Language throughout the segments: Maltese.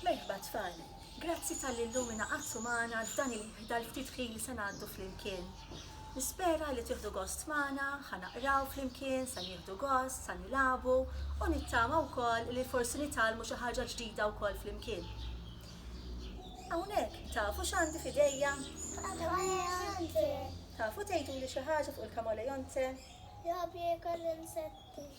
Merħba tfal! Grazzi talli llum ingħaqadtu magħna dal-ftit ħin li se ngħaddu flimkien. Nispera li tieħdu gost magħna, ħa naqraw flimkien, sa nieħdu gost, sa nilagħbu u nittama wkoll li forsi nitgħallmu xi ħaġa ġdida wkoll flimkien. Hawnhekk tafu x'għandi f'idejja? Tafu tgħiduli xi ħaġa fuq il-kamolejonte? Jgħob jiekol l-insetti.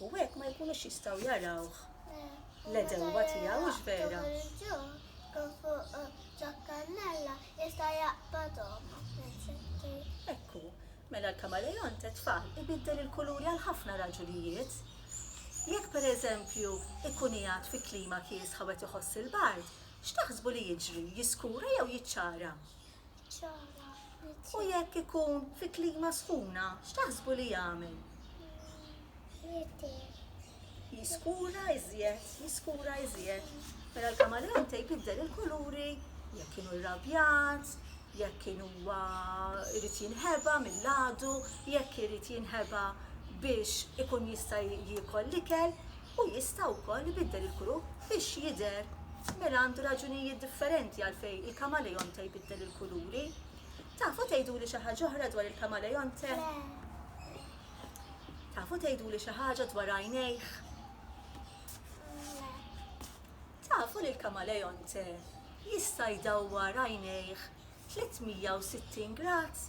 U hekk ma jkunux jistgħu jarawh l-edewwa tiegħu hux vera. Ekku, mela l-kamaleon tetfal ibiddel il-kuluri għal ħafna raġunijiet. Jekk pereżempju ikun qiegħed fi klima kiesħa u qed iħoss il-bard, x'taħsbu li jiġri, jiskura jew jiċċara? U jekk ikun fi klima sħuna, x'taħsbu li jagħmel? Jiskura iżjed, jiskura iżjed. Mela l-kamaleon tejb jiddel il-kuluri, jekk kienu rrabjat, jekk kien huwa irid jinħeba mill-għadu, jekk irid jinħeba biex ikun jista' jiekol l-ikel, u jista' wkoll ibiddel il-kuru biex jidher. Mela għandu raġunijiet differenti għalfejn il-kamaleonte jbiddel il-kuluri. Tafu tgħiduli xi ħaġa oħra dwar il-kamaleonte? Tafu tgħiduli xi ħaġa dwar għajnejh? Tafu li l-kamaleonte jista' jdawwar għajnejh 360 grad,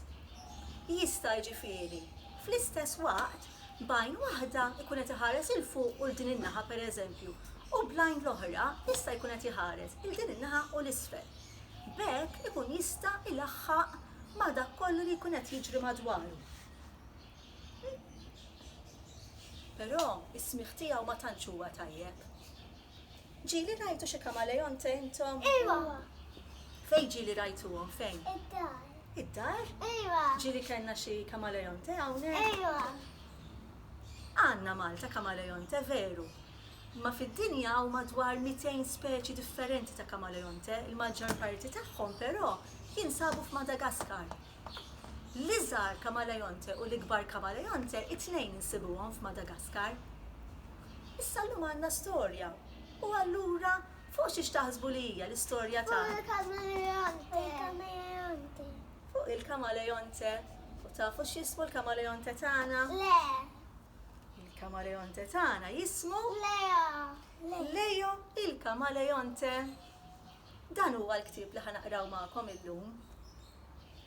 jista' jiġifieri fl-istess waqt b'għajn waħda jkun qed iħares 'il fuq u 'l din in-naħa pereżempju u bl-għajn l-oħra jista' jkun qed iħares 'il din in-naħa u 'l isfel. B'hekk ikun jista' jlaħħaq ma' dak kollu li jkun qed jiġri madwaru. Però s-smigħ tiegħu ma tantx huwa tajjeb. Ġieli rajtu xi kamaleonte intom? Iva. Fejn ġieli rajtuhom fejn? Id-dar. Id-dar? Iva. Ġieli kellna xi kamaleonte hawnhekk? Iva. Għandna Malta kamaleonte veru. Imma fid-dinja hawn madwar 200 speċi differenti ta' kamaleonte, il-maġġor parti tagħhom però jinsabu f'Madagaskar. L-iżgħar kamaleonte u l-ikbar kamaleonte it-tnejn insibuhom f'Madagaskar. Issa llum għandna storja u allura fuq xiex taħsbu li hija l-istorja ta' Fuq il-kamaleonte. Il-kamaleonte. Fuq il-kamaleonte. U tafu x'jismu l-kamaleonte tagħna? Le. Il-kamaleonte tagħna jismu? Leo. Leo il-kamaleonte. Dan huwa l-ktieb li ħa naqraw magħkom illum.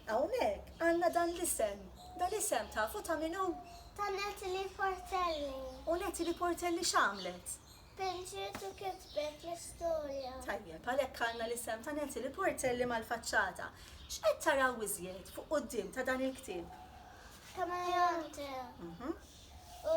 Hawnhekk għandna dan l-isem. Dal-isem tafu ta' min hu? Ta' Natalie Portelli. U Natalie Portelli x'għamlet? Pinġiet u kitbet l-istorja. Tajjeb, għalhekk għandna l-isem ta' Natalie Portelli mal-faċċata. X'qed taraw iżjed fuq quddiem ta' dan il-ktieb? Kameleonte. U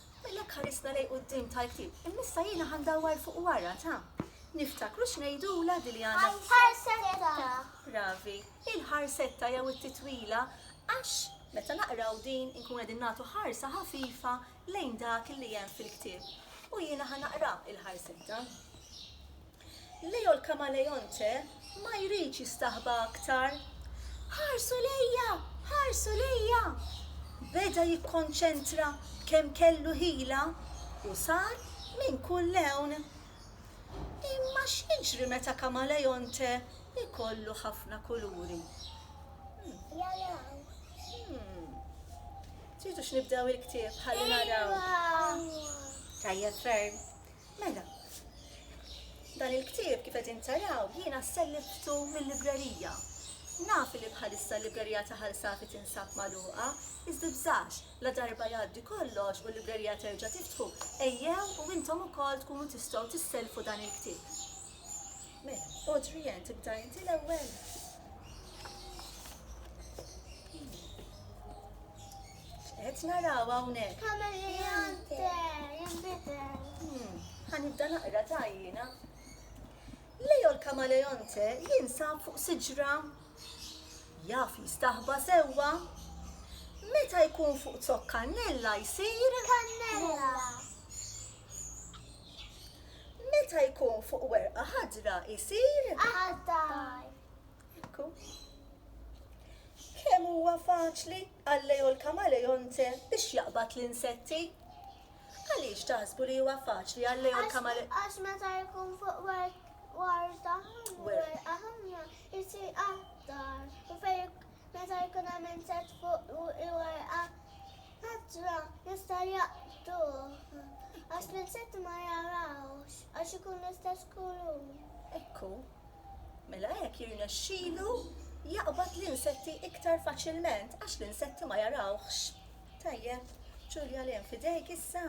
Mela jekk ħarisna lejn quddiem tal-ktieb, imma issa jiena ħa ndawwar fuq wara ta'. Niftakru x'ngħidulha di li għandna fuq. Il-ħarsetta. Bravi. Il-ħarsetta jew it-titwila għax meta naqraw din inkunu qegħdin nagħtu ħarsa ħafifa lejn dak li hemm fil-ktieb. U jiena ħa naqra il-ħarsetta. Leo l-Kamalejonte ma jridx jistaħba aktar. Ħarsu lejja! Ħarsu lejja! Beda jikkonċentra kemm kellu ħila u sar minn kull lewn. Imma x'jiġri meta Kamalejonte jkollu ħafna kuluri? Tridux nibdew il-ktieb ħalli naraw. Tajjeb ferm. Mela, dan il-ktieb kif qegħdin taraw jiena selliftu mil-librerija. Naf li bħalissa l-librerija ta' Ħal Safi tinsab magħluqa, iżda tbżax, la darba jgħaddi kollox u l-librerija terġa' tiftħu, ejjew u intom ukoll tkunu tistgħu tissellfu dan il-ktieb. Mela, Audrian, tibda inti l-ewwel? Qed naraw hawnhekk. Kameleonte, jinbidel. Hmm, ħanibda naqra ta' jiena. Leo l-kamaleonte jinsab fuq siġra. Jaf jistaħba sewwa. Meta jkun fuq zok kannella jsir kannella. Meta jkun fuq werqa ħadra jsir ħadar. Kemm huwa faċli Għallejo l-kamalejonte biex jaqbad l-insetti? Għaliex taħsbu li huwa faċli għallejo l-kamalejonte? Għax meta jkun fuq warda werqa ħafna jsir aħdar u fejn meta jkun hemm insett fuq warqa ħadra jista' jaqtuh għax l-insetti ma jarawx għax ikun l-istess kulur. Ekku. Mela hekk jirnexxilu jaqbad l-insetti iktar faċilment għax l-insetti ma jarawhx. Tajjeb, Ġulja l fidejk issa.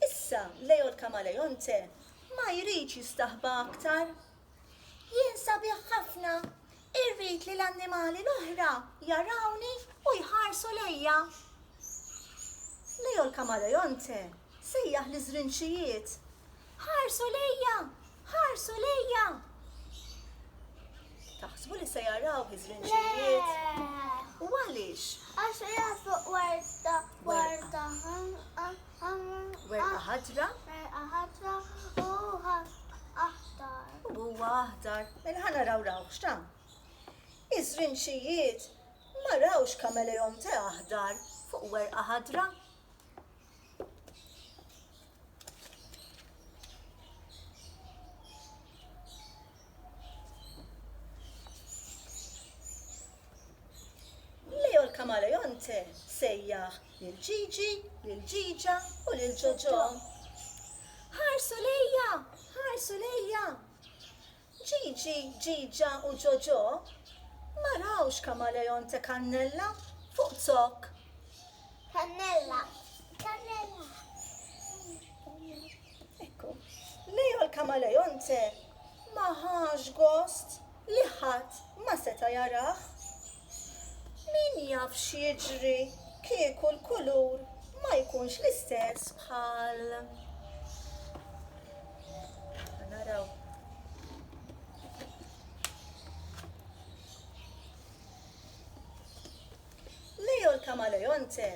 Issa, Leo l-Kamaleonte ma jridx jistaħba aktar. Jien sabiħ ħafna, Irrid li l-annimali l-oħra jarawni u jħarsu lejja. Leo l-kamaleonte sejjaħ liż-żrinċijiet, Ħarsu lejja! Ħarsu lejja! Taħsbu li se jarawh iż-żrinċijiet? U għaliex? Għax qiegħed fuq warda warda ħanqa. Werqa ħadra. Werqa ħadra u aħdar. U huwa aħdar. Mela ħa naraw raw x'ta. Iż-żrinxijiet ma rawx kameleon te aħdar fuq werqa ħadra. Leo l-kamaleonte sejjaħ lil Ġiġi, lil Ġiġa u lil Ġoġo. Ħarsu lejja! Ħarsu lejja! Ġiġi, Ġiġa u Ġoġo ma rawx kamaleonte kannella fuq zokk. Kannella! Kannella! Ekku, Leo l-Kamaleonte ma ħax gost li ħadd ma seta' jarah. Min jaf x'jiġri kieku l-kulur ma jkunx l-istess bħal. Naraw. Leo l-Kamaleonte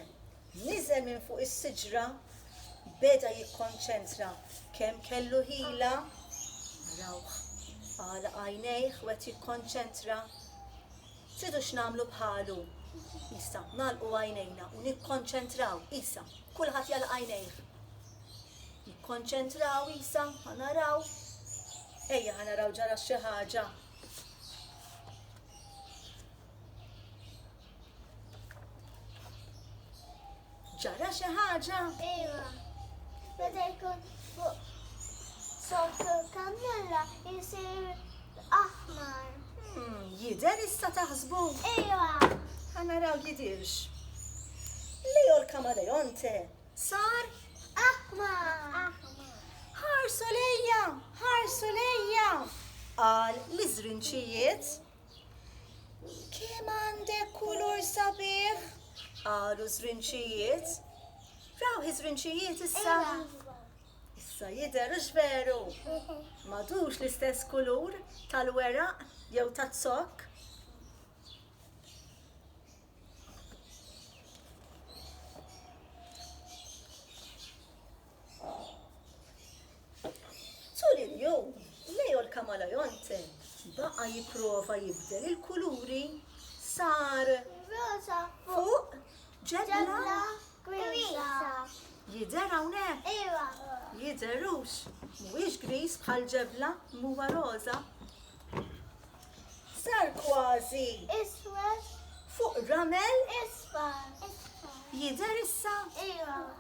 Niżel minn fuq is-siġra, beda jikkonċentra. Kemm kellu ħila! Arawh, għalaq għajnejh u qed jikkonċentra. Tridu x'nagħmlu bħalu? Isa, nagħlqu għajnejna u nikkonċentraw. Isa, kulħadd jagħlaq għajnejh. Jikkonċentraw Isa, ħa naraw. Ejja ħa naraw ġara xi ħaġa. Ġara xi ħaġa? Iva. Meta jkun fuq sottu l-kannella jisir aħmar. Hmm, jider issa taħsbu? Iva. Ħana raw jidirx. Leo l-kamaleonte sar aħmar. Ħarsu lejja, ħarsu lejja. Qal l-iżrinċijiet Kemm għandek kulur sabiħ! qalu ż-żrinċijiet. Raw iż-żrinċijiet issa? Issa jidher hux veru? M'għadux l-istess kulur tal-weraq jew taz-zokk. Tul il-jum, Leo l-Kamalajonte baqa' jipprova jibdel il-kuluri sar Rosa fuq ġebla griża. Jidher hawnhekk? Iva. Jidher hux? Mhuwiex griż bħal ġebla m'huwa roża. Sar kważi iswed fuq ramel isfar. Jidher issa? Iva.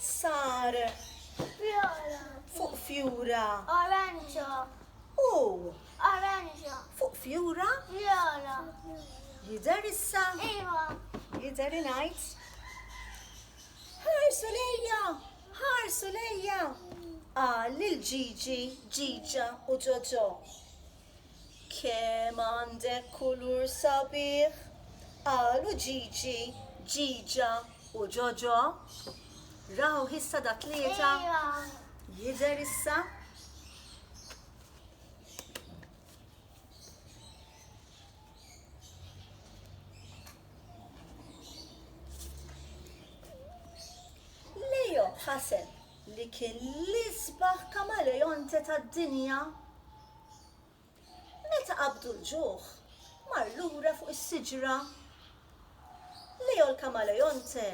sar fuq fjura oranġa u oranġa fuq fjura viola jidher issa iva jidher ngħid ħarsu lejja ħarsu lejja qal lil Ġiġi Ġiġa u Ġoġo Kemm għandek kulur sabiħ! qalu Ġiġi, Ġiġa u Ġoġo. Rawh issa da tlieta? Jidher issa? Leo ħaseb li kien l-isbaħ kamaleonte tad-dinja, meta qabdu l-ġuħ mar lura fuq is-siġra. Leo l-kamaleonte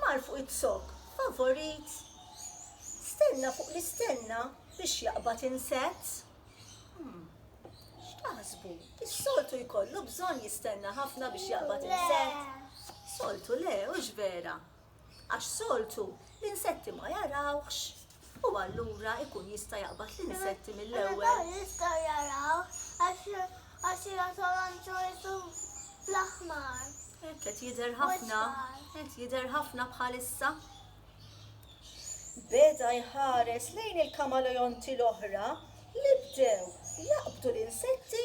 mar fuq iz-zokk favorit. Stenna fuq l-istenna biex jaqbad insett. Hmm, x'taħsbu? Is-soltu jkollu bżonn jistenna ħafna biex jaqbad insett? Soltu le, hux vera? għax soltu l-insetti ma jarawhx u allura ikun jista' jaqbad l-insetti mill-ewwel. Jista' jarawh għax jgħatolhomx wiċċu fl-aħmar. Hekk qed jidher ħafna, qed jidher ħafna bħalissa. Beda jħares lejn il-kamaleonti l-oħra li bdew jaqbdu l-insetti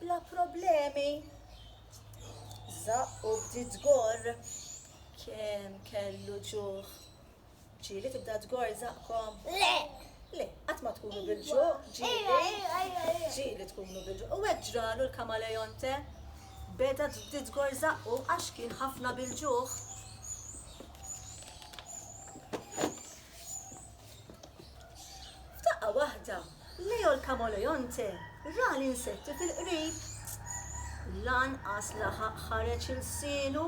bla problemi. Żaqq u bdiet tgorr. Kemm kellu ġuħ? Ġieli tibda tgorr zaqkom? Le! Le, qatt ma tkunu bil-ġuħ, ġieli. Ġieli tkunu bil-ġuħ. U hekk ġralu l-kamalejonte. Beda bdiet tgorr zaqqu għax kien ħafna bil-ġuħ. F'daqqa waħda Leo l-Camaleonte ra l-insetti fil-qrib. Lanqas laħaq ħareġ ilsienu.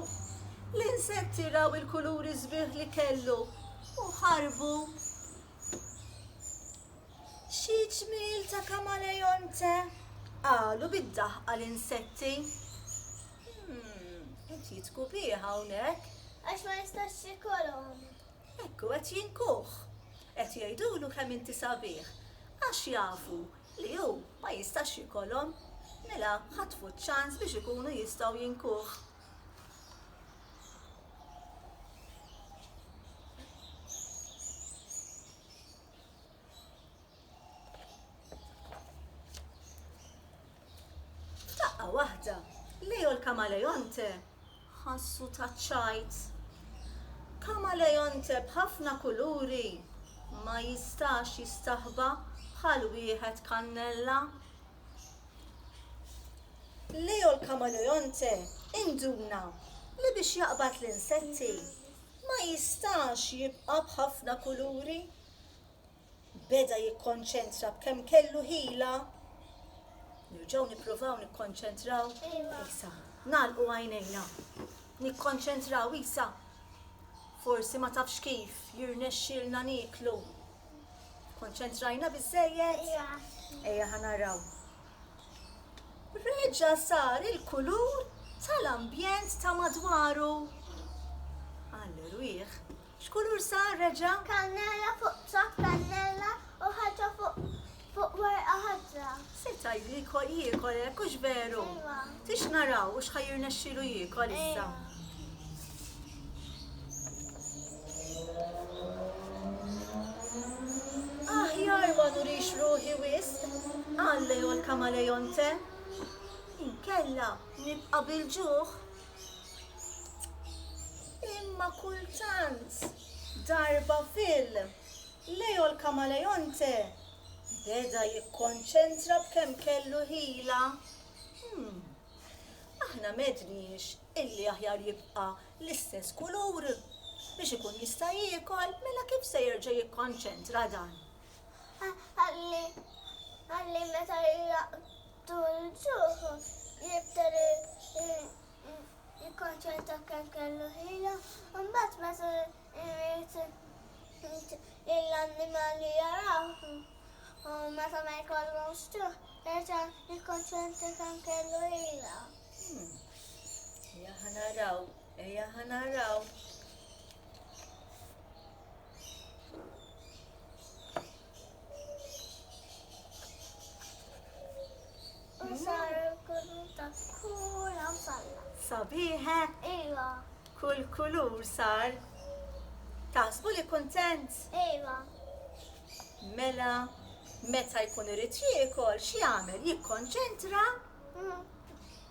L-insetti raw il-kuluri sbieħ li kellu u ħarbu. Xi ġmiel ta' Camaleonte! qalu bid-daħqa l-insetti. Hmm, qed jitku bih hawnhekk. Għax ma jistax jikolhom. Ekku qed jinkuh. Qed jgħidulu kemm inti sabiħ għax jafu li hu ma jistax jikolhom mela ħatfu ċ-ċans biex ikunu jistgħu jinkuh. F'daqqa waħda, Leo l-Kamalejonte ħassu ta' ċajt. Kamalejonte b'ħafna kuluri ma jistax jistaħba bħal wieħed kannella. Leo l-Kamalejonte induna li biex jaqbad l-insetti ma jistax jibqa' b'ħafna kuluri beda jikkonċentra b'kemm kellu ħila, nirġgħu nippruvaw nikkonċentraw isa. Nagħlqu għajnejna. Nikkonċentraw isa. Forsi ma tafx kif jirnexxilna niklu. Konċentrajna biżejjed? Ejja ħanaraw. Reġa sar il-kulur tal-ambjent ta' madwaru. Għal rwieħ X'kulur sar reġa'? Kannella fuq ċokk kannella u ħaġa fuq fuq werqa ħadra. Se tgħidli jkoll jiekol hekk hux veru? Ejwa. Tix naraw hux ħa jirnexxilu jiekol issa. Ejwa. Aħjar ma nurix ruħi wisq, qal Leo l-Kamalejonte. Inkella nibqa' bil-ġuħ. Imma kultant, darba fil, Leo l-Kamaleonte beda jikkonċentra b'kemm kellu ħila. Hm, aħna m'għedniex illi aħjar jibqa' l-istess kulur biex ikun jista' jiekol, mela kif se jerġa' jikkonċentra dan? Ħalli meta Tul il-ġuħ jibtel jikkonċentra kemm kellu ħila u mbagħad meta jrid lill-annimali jarawh u meta ma jkollhomx ġuħ jerġa' jikkonċentra kemm kellu ħila. Ejja ħa naraw, ejja ħa naraw. Sabiħek? Iva. Kull kulur sar. Taħsbu li kuntent? Iva. Mela, meta jkun irid jiekol, x'jagħmel? Jikkonċentra?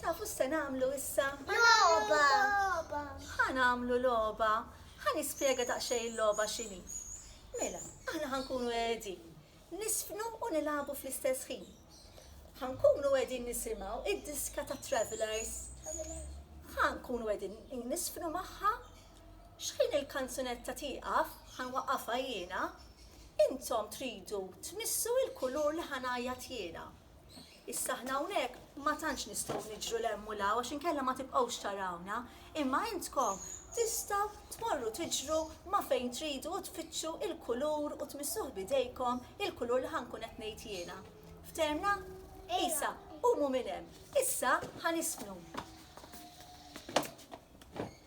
Tafu x'se nagħmlu issa? Logħba! Ħa nagħmlu logħba. Ħa nispjega daqsxejn il-logħba x'inhi. Mela, aħna ħankunu qegħdin nisfnu u nilagħbu fl-istess ħin. Ħankunu qegħdin nisimgħu id-diska ta' Travelers. Ħankunu qegħdin nisfnu magħha xħin il-kanzunetta tieqaf, ħanwaqqafha jiena, intom tridu tmissu il-kulur li ħanajjat jiena. Issa aħna hawnhekk ma tantx nistgħu niġru 'l hemm u 'l hawn għax inkella ma tibqgħux tarawna, imma intkom tistgħu tmorru tiġru ma' fejn tridu u tfittxu l-kulur u tmissuh b'idejkom, il-kulur li ħa nkun qed ngħid jiena. Fthemna? Isa, qumu minn hemm. Issa ħa nispnu.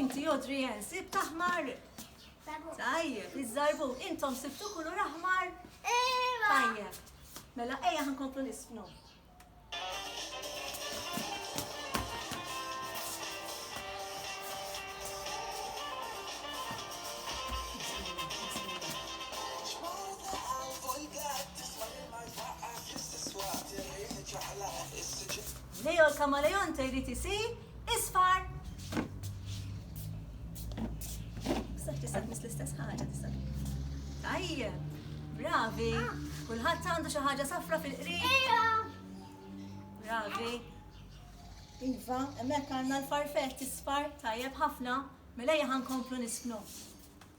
Inti Audrey Ann, sib taħmar. Tajjeb, iż-żarbu, intom sibtu kulur aħmar. Iva. Tajjeb. Mela ejja ħankomplu nisfnu. Leo l-kamaleonte jrid isir isfar! Saħ tista' tmiss l-istess ħaġa tista'. Tajjeb, bravi. Kulħadd għandu xi ħaġa safra fil-qrib. Bravi. Iva, hemmhekk għandna l-farfett isfar tajjeb ħafna. Mela ejja ħankomplu nisknu.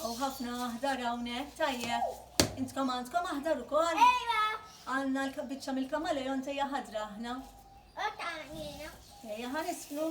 Għaw ħafna aħdar hawnhekk tajjeb. Intkom għandkom aħdar ukoll? Ejja. Għandna l-biċċa mill-kamaleon tejja ħadra aħna. Ejja ħanisflu.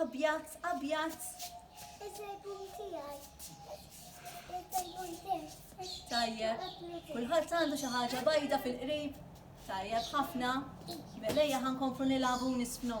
Abjad, abjad. Il-telefon tiegħi. Il-telefon tiegħi. Tajjeb. Kulħadd għandu xi ħaġa bajda fil-qrib. Tajjeb ħafna. Melejja ħankomplu nilagħbu nisfnu.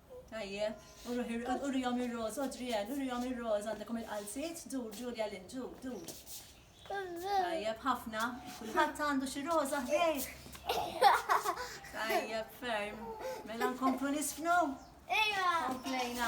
Tajjeb, urihom ir-roż, Adrienne, urihom ir-roż, għandekom il-qalziet, dur, Julia Lynn, dur, dur. Tajjeb, ħafna, kulħadd għandu xi roża ħdejh. Tajjeb, ferm. Mela nkomplu nisfnu? Ejja. Komplejna.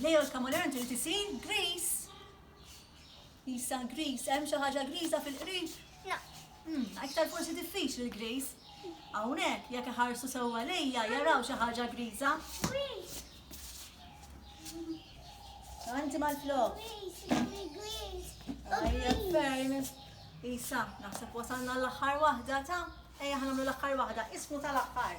Leo l-kamuler trid isir griż. Isa griż, hemm xi ħaġa griża fil-qrib? No. Hmm, iktar forsi diffiċli l-griż. Hawnhekk jekk iħarsu sewwa lejja jaraw xi ħaġa griża. Anti mal-flok. Ajja, ferm. Isa, naħseb wasalna l-aħħar waħda ta' ejja ħanamlu l-aħħar waħda, ismu tal-aħħar.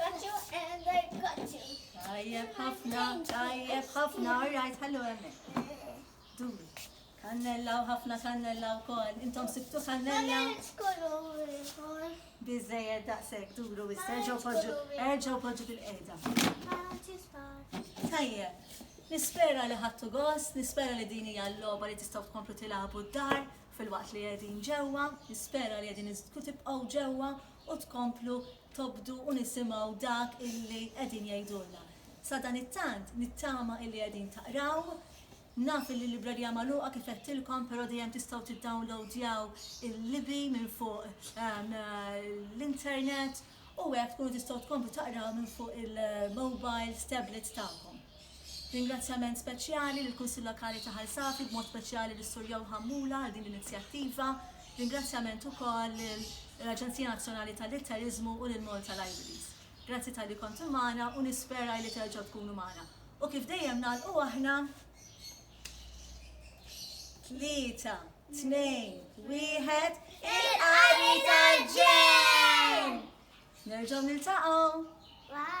Got you and I got you. Tajjeb ħafna, tajjeb ħafna, all right, ħallu għemmek. Duri. Kannella u ħafna kannella u kol. Intom sibtu kannella. Bizzejed daqsek duru u s-serġaw poġu, erġaw poġu fil-qeda. Tajjeb. Nispera li ħattu gost, nispera li dini għall-loba li tistaw tkomplu tilabu d-dar fil-waqt li għedin ġewa, nispera li għedin tibqaw ġewa u tkomplu tobdu u nisimgħu dak illi qegħdin jgħidulna. Sadanittant nittama illi qegħdin taqraw, naf illi l-librerija magħluqa kif għedtilkom però dejjem tistgħu tiddownloadjaw il-libi minn fuq l-internet u hekk tkunu tistgħu tkomplu taqraw minn fuq il-mobiles, tablets tagħkom. Ringrazzjament speċjali lill-Kunsill Lokali ta' Ħal Safi, b'mod speċjali lis-Sur Joe Hammula għal din l-inizjattiva. Ringrazzjament ukoll lill-Aġenzija Nazzjonali tal-Litteriżmu u lil Malta Libraries. Grazzi talli kontu magħna u nispera illi terġgħu tkunu magħna. U kif dejjem nagħlqu aħna. Tlieta, tnejn, wieħed, il-qari tal-ġenn! Nerġgħu niltaqgħu! Bye!